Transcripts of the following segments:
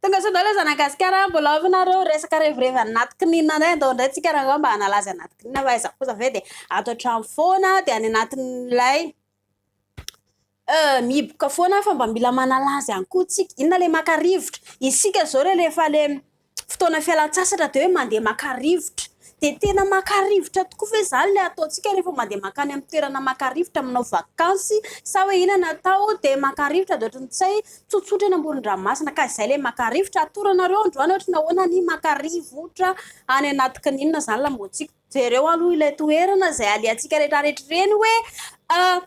Tongasoa za nagasikara mbola ao nareo resaka revirevy anaty kinina indray andao indray tsika rangah mba hanala azy anaty kinina fa aiza kosa ve dia ato an-trano foana dia any anatin'ilay Euh mihiboka foana fa mba mila manala azy any koa tsika, inona le maka rivotra, isika zao re rehefa le fotoana fialantsasatra de hoe mandeha maka rivotra, de tena maka rivotra tokoa ve zany le ataontsika rehefa mandeha makany amin'ny toerana maka rivotra manao vakansy sa hoe inona no atao de maka rivotra de ohatry ny tsy hay tsotsotra eny amoron-dranomasina ka izay le maka rivotra, atoronareo androany ohatry ny ahoana ny maka rivotra any anaty kininina zany lamaontsika, jereo aloha ilay toerana izay alehantsika rehetra rehetra ireny hoe ah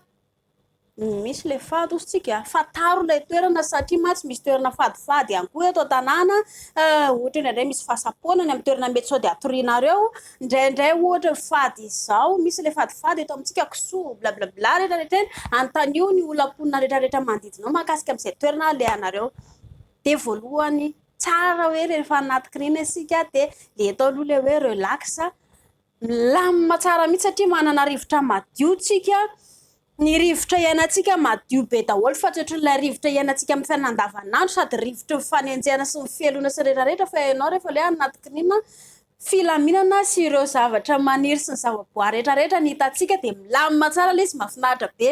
Misy ilay fady hozy tsika a, fantaro ilay toerana satria mantsy misy toerana fadifady ihany koa eto an-tanàna, ohatra hoe indraindray misy fahasampoana any amin'ny toerana mety sao dia hatorianareo, indraindray ohatra fady izao, misy ilay fadifady eto amintsika kisoa, blablabla retraretra eny, anontanio ny olam-ponina retraretra manodidina ao mahakasika an'izay toerana alehanareo, dia voalohany tsara hoe rehefa anaty kiriana isika dia le atao aloha ilay hoe relax, Milamina tsara mihitsy satria manana rivotra madio tsika. Ny rivotra iainantsika madio be daholo fa tsy ohatran'ilay rivotra iainantsika amin'ny fiainana andavanandro sady rivotry ny fanenjehana sy ny fialona sy ny rehetra rehetra fa ianao rehefa ilay anaty klima filaminana sy ireo zavatra maniry sy ny zavaboary rehetra rehetra ny hitantsika dia milamina tsara ilay izy mahafinaritra be.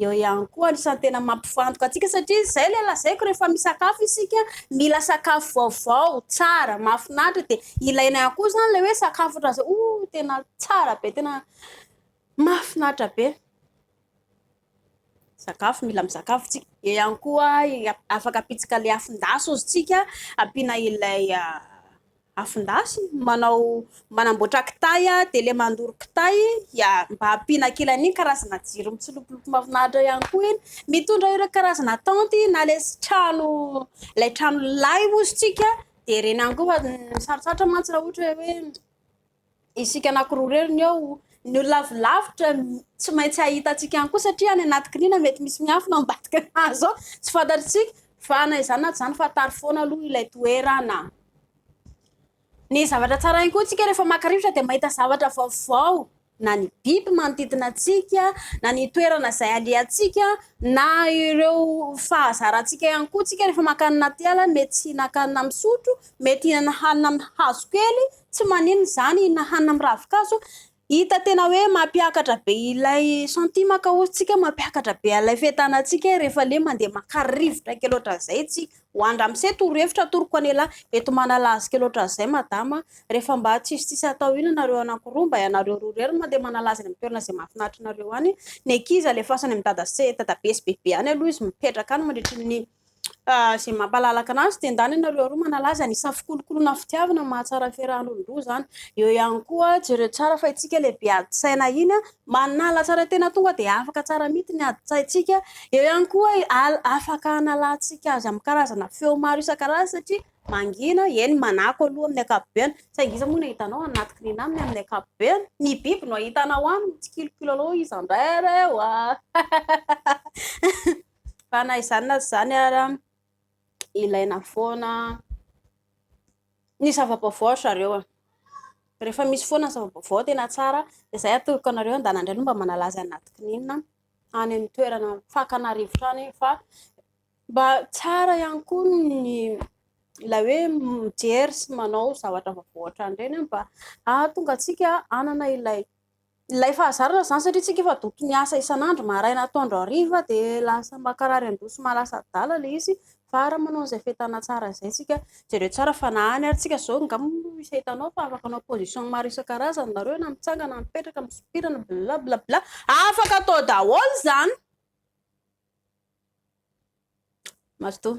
Eo ihany koa anisan'ny tena mampifantoka antsika satria izay ilay lazaiko rehefa misakafo isika mila sakafo vaovao, tsara, mahafinaritra dia ilaina ihany koa izany ilay hoe sakafo ohatran'izao oh tena tsara be tena mahafinaritra be. Sakafo mila misakafo isika. Eo ihany koa afaka ampitsika ilay afon-dasy ozy tsika ampiana ilay ah, afondasy manao manamboatra kitay dia ilay mandoro kitay dia mba ampiana kely an'iny karazana jiro mitsilopilopy mahafinaritra ihany koa iny. Mitondra ireo karazana tanty na ilay trano ilay trano lay ozy tsika dia ireny ihany koa fa sarosarotra mantsy raha ohatra hoe Isika anankiroa irery ny eo. Ny olona avy lavitra tsy maintsy hahita antsika ihany koa satria any anaty kiniana mety misy miafina ao ambadika ny hazo ao. Tsy fantatr'isika fa na izany na tsy izany fa tary foana aloha ilay toerana. Ny zavatra tsara ihany koa antsika rehefa maka rivotra dia mahita zavatra vaovao na ny biby manodidina antsika na ny toerana izay alehantsika na ireo fahazarantsika ihany koa antsika rehefa mankany anaty ala mety tsy hihinan-kanina misotro mety hihinana hanina amin'ny hazo kely tsy maninona izany hihinana hanina amin'ny ravin-kazo hita tena hoe mampiakatra be ilay santimaka hozy tsika mampiakatra be alay fetana tsika rehefa le mandeha makarivotra kely oatra zay tsy ho andra mise toro efitra toroko anela eto manalazika loatra zay madama rehefa mba tsisy tsisy atao ina nareo anakoroa mba ianareo rorero mandeha manalazina am toerana zay mafinatrinareo any ny akiza le fasana am dada se dada be sy bebe any aloha izy mipetraka any mandritrin'ny izay mampalalaka anazy dia ndany ianareo aroa manalaza ny samy fikolokoloana fitiavana mahatsara ny fiaraha-monindroa izany. Eo ihany koa jereo tsara fa itsika ilay be adin-tsaina iny manala tsara tena tonga dia afaka tsara mihitsy ny adin-tsaintsika. Eo ihany koa afaka hanalantsika azy amin'ny karazana feo maro isan-karazany satria mangina, eny manako aloha amin'ny ankapobeny saingy iza moa no ahitanao any anaty kirinina aminy amin'ny ankapobeny? Ny biby no ahitanao any mitsikilokiloa izandray ary e! Fa na izany na tsy izany ara, ilaina foana ny zava-baovao ry zareo a. Rehefa misy foana ny zava-baovao tena tsara dia izay atolotro anareo andana indray no mba manalaza ny anaty kininina any amin'ny toerana fakana rivotra any fa mba tsara ihany koa ny ilay hoe mijery sy manao zavatra vaovao ohatran'ireny mba hahatonga antsika hanana ilay Ilay fahazarana izany satria tsika efa doky ny asa isan'andro maraina atoandro hariva dia lasa mankarary andoha sy maha lasa adala ilay izy fa raha manao an'izay fenitana tsara izay isika, jereo tsara fa na any ary tsika izao angamba misy hitanao fa afaka hanao position maro isan-karazany nareo na mitsanga na mipetraka na misopira na bla bla bla afaka atao daholo izany. Mazotoa.